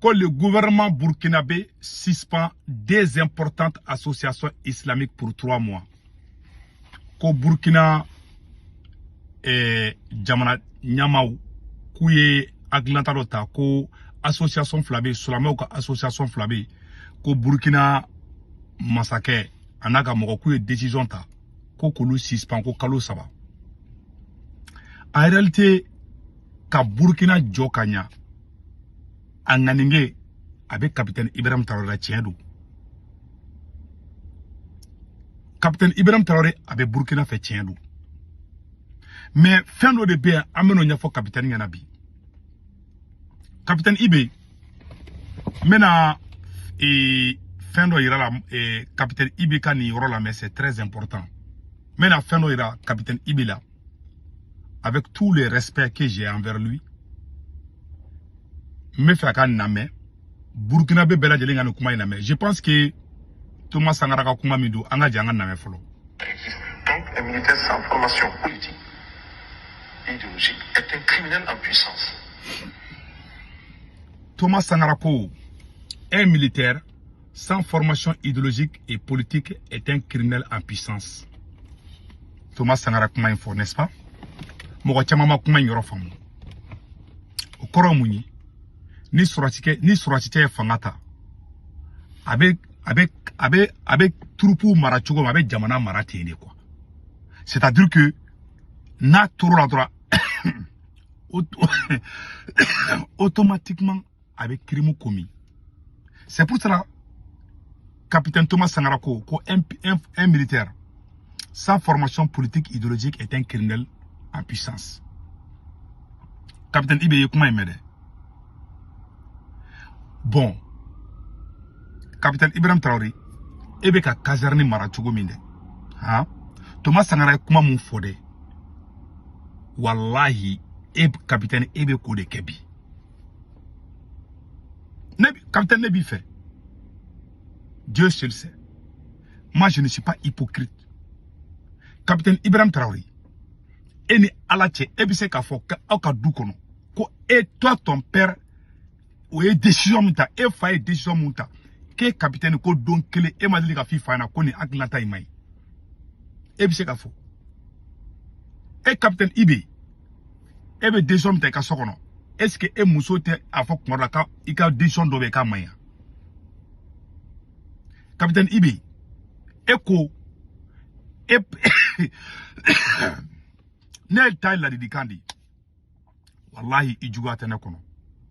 ko le gouvernement burkinabé suspend deux importantes associations islamiques pour trois mois. Ko Burkina eh, jamana ɲamaw k'u ye hakilinata dɔ ta ko association fila bɛ silamɛw ka association fila bɛ ko Burkina masakɛ a n'a ka mɔgɔw k'u ye décision ta ko k'olu suspend ko kalo saba en réalité ka burukina jɔ ka ɲa a ŋaniya a bɛ kapitɛni ibrahim tarawele la tiɲɛ don kapitɛni ibrahim tarawele a bɛ burukina fɛ tiɲɛ don mais fɛn dɔ de bɛ yan an bɛn'o ɲɛfɔ kapitɛni ɲɛna bi kapitɛni ibe n bɛna ee, fɛn dɔ yira i la ee, kapitɛni ibe ka nin yɔrɔ lamɛn c'est très important n bɛna fɛn dɔ yira kapitɛni ibe la avec tout le respect que j'ai envers lui n b'a fɛ a ka nin lamɛn burkinabé bɛɛ lajɛlen ka nin kuma in lamɛn je pense que Thomas Sankara ka kuma min don an ka jɛ an ka lamɛn fɔlɔ. donc un militaire sans formation politique idéologique est un criminel en puissance. Thomas Sankara ko un militaire sans formation idéologique et politique est un criminel en puissance Thomas Sankara kuma in fɔ n'est-ce pas mɔgɔ caman ma kuma in yɔrɔ faamu o kɔrɔ mun ye ni sɔrɔdasikɛ ni sɔrɔdasikɛ ye fanga ta a bɛ a bɛ a bɛ a bɛ turupuw mara cogo min a bɛ jamana mara ten de quoi c'est-à-dire que n'a tor'o la dɔrɔn automatiquement a bɛ crime commis c'est pour cela capitaine Thomas Sankara ko ko un, un, un militaire sans formation politique idéologique est un criminel en puissance capitaine Ibe ye kuma in mɛn dɛ bon capitaine Ibrahim Traoré e b'i ka caserne mara cogo min dɛ han Thomas Sankara ye kuma min fɔ dɛ walahi e capitaine e bɛ k'o de kɛ bi. ne capitaine ne b'i fɛ Dieu seul sait moi je ne suis pas hypocrite capitaine Ibrahim Traoré e ni Ala cɛ e bɛ se k'a fɔ aw ka du kɔnɔ ko e toi ton père o ye décision min ta e fa ye décision min ta k'e capitaine ko don kelen e ma deli k'a f'i fa ɲɛna ko nin hakilinata in man ɲi e bɛ se k'a fɔ e capitaine Ibe e bɛ décision ta i ka so kɔnɔ est-ce que e muso tɛ a fɔ kuma dɔ la ko i ka décision dɔ bɛ yen k'a man ɲi wa capitaine ibe e ko e ne ta ye ladilikan de ye walahi i juguya tɛ ne kɔnɔ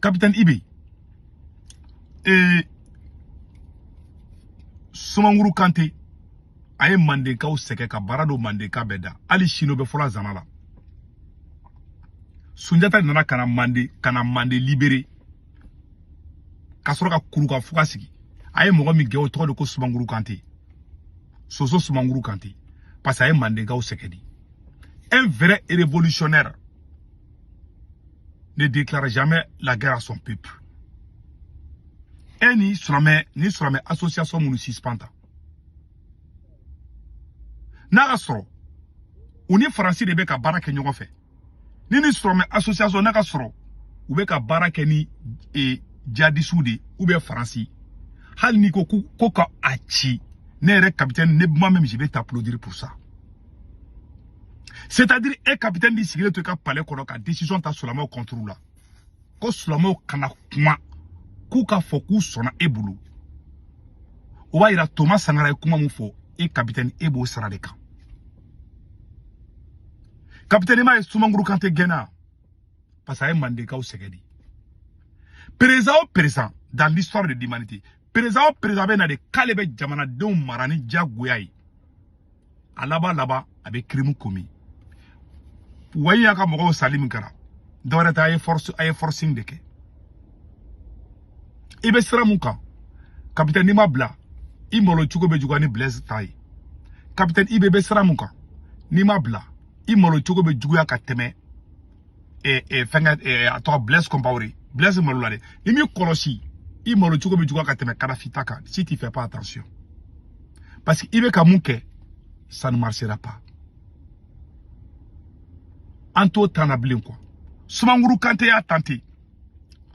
capitaine Ibi ee Sumanguru Kante a ye Mandenkaw sɛgɛn ka baara don Mandenka bɛɛ da hali sini o bɛ fɔ la zana la Sunjata nana ka na Manden ka na Manden libere ka sɔrɔ ka Kurukan Fuga sigi a ye mɔgɔ min gɛn o tɔgɔ de ko Sumanguru Kante Soso Sumanguru Kante parce que a ye Mandenkaw sɛgɛn de un vrai révolutionnaire ne déclare jamais la guerre à son peuple e ni silamɛ ni silamɛ association minnu suspend ta n'a k'a sɔrɔ u ni faransi de bɛ ka baara kɛ ɲɔgɔn fɛ ni ni silamɛ association n'a k'a sɔrɔ u bɛ ka baara kɛ ni e, jihadisiw de ou bien faransi hali n'i ko ko ka a ci ne yɛrɛ capitaine ne moi-même je vais t'applaudir pour ça c'est à dire e capitaine b'i sigilen to i ka palais kɔnɔ ka décision ta sulamaw contre la ko sulamaw kana kuma k'u k'a fɔ k'u sɔnna e bolo o b'a yira Thomas Sankara ye kuma min fɔ e capitaine e b'o sira de kan capitaine i m'a ye Sumanguru Kante gɛnna parce que a ye mandenkaw sɛgɛn de perezan o perezan dans l'histoire de l'humanité perezan o perezan bɛ na de k'ale bɛ jamanadenw mara ni diyagoya ye a laban laban a bɛ crime commis wayi y'a ka mɔgɔw sali min kɛra dɔwɛrɛ tɛ a ye force a ye forcing de kɛ i bɛ sira min kan kapitɛni n'i m'a bila i malo cogo bɛ juguya ni Blaise ta ye kapitɛni Ibi bɛ sira min kan n'i m'a bila i malo cogo bɛ juguya ka tɛmɛ fɛnkɛ a tɔgɔ Blaise Compaoré Blaise malola dɛ n'i m'i kɔlɔsi i malo cogo bɛ juguya ka tɛmɛ Kadhafi ta kan si tu fais pas attention parce que i bɛ ka min kɛ ça ne marchera pas an t'o temps na bilen quoi Sumankuru Kante y'a tenté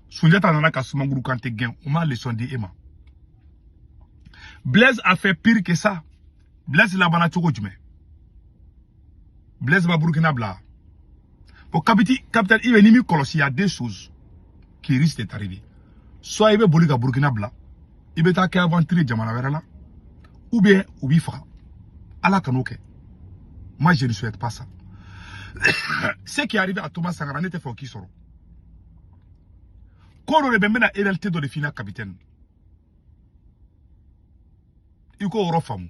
Sunjata nana ka Sumankuru Kante gɛn o ma leçon di e ma Blaise a fait pire que ça Blaise labanna cogo jumɛn Blaise ma Burkina bila o kapiti capitaine Ibi n'i m'i kɔlɔsi y a deux choses qui risquent de t'arriver soit i bɛ boli ka Burkina bila i bɛ taa kɛ aventure jamana wɛrɛ la ou bien u b'i faga ala kan'o kɛ moi je ne souhaite pas ça ce qui est arrivé à Thomas Sankara ne t'a fɛ o k'i sɔrɔ ko dɔ de bɛ n bɛna réalité dɔ de f'i la capitaine i k'o yɔrɔ faamu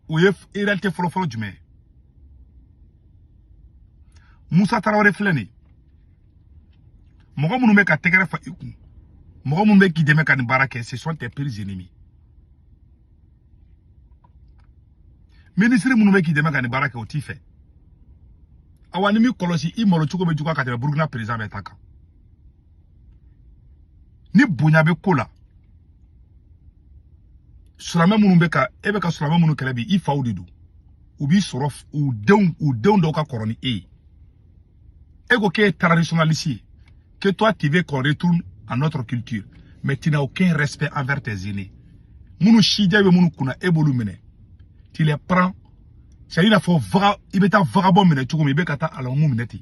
o ye réalité fɔlɔfɔlɔ jumɛn ye musa tarawele filɛ nin mɔgɔ minnu bɛ ka tɛgɛrɛ fa i kun mɔgɔ minnu bɛ k'i dɛmɛ ka nin baara kɛ ce sont tes pires ennemis minisiri minnu bɛ k'i dɛmɛ ka nin baara kɛ o t'i fɛ awa n'i m'i kɔlɔsi i malo cogo bɛ juguya ka tɛmɛ burukina perezidan bɛɛ ta kan ni bonya bɛ ko la silamɛ minnu bɛ ka e bɛ ka silamɛ minnu kɛlɛ bi i faw de don u b'i sɔrɔ u denw dɔw ka kɔrɔ ni e ye e ko k'e ye traditionnaliste ye que toi tu veux qu'on retourne à notre culture mais tu n'as aucun respect envers tes aînés minnu sijɛ bɛ minnu kunna e b'olu minɛ tu les prends c'est à dire i n'a fɔ i bɛ taa vagabond minɛ cogo min i bɛ ka taa alimamiw minɛ ten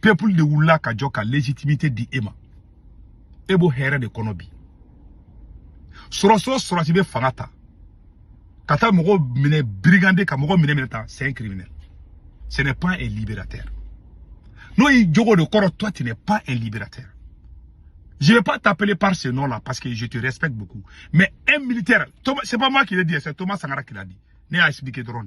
peuple de wulila ka jɔ ka légitimité di e ma e b'o hɛrɛ de kɔnɔ bi sɔrɔdasi o sɔrɔdasi bɛ fanga ta ka taa mɔgɔ minɛ brigander ka mɔgɔ minɛ minɛ tan c'est un criminel ce n'est pas un libérateur n'o y'i jogo de kɔrɔ toi tu n'es pas un libérateur Je ne vais pas t'appeler par ce nom-là parce que je te respecte beaucoup. Mais un militaire, c'est pas moi qui l'ai dit, c'est Thomas Sankara qui l'a dit. Ne y'a expliqué dɔrɔn.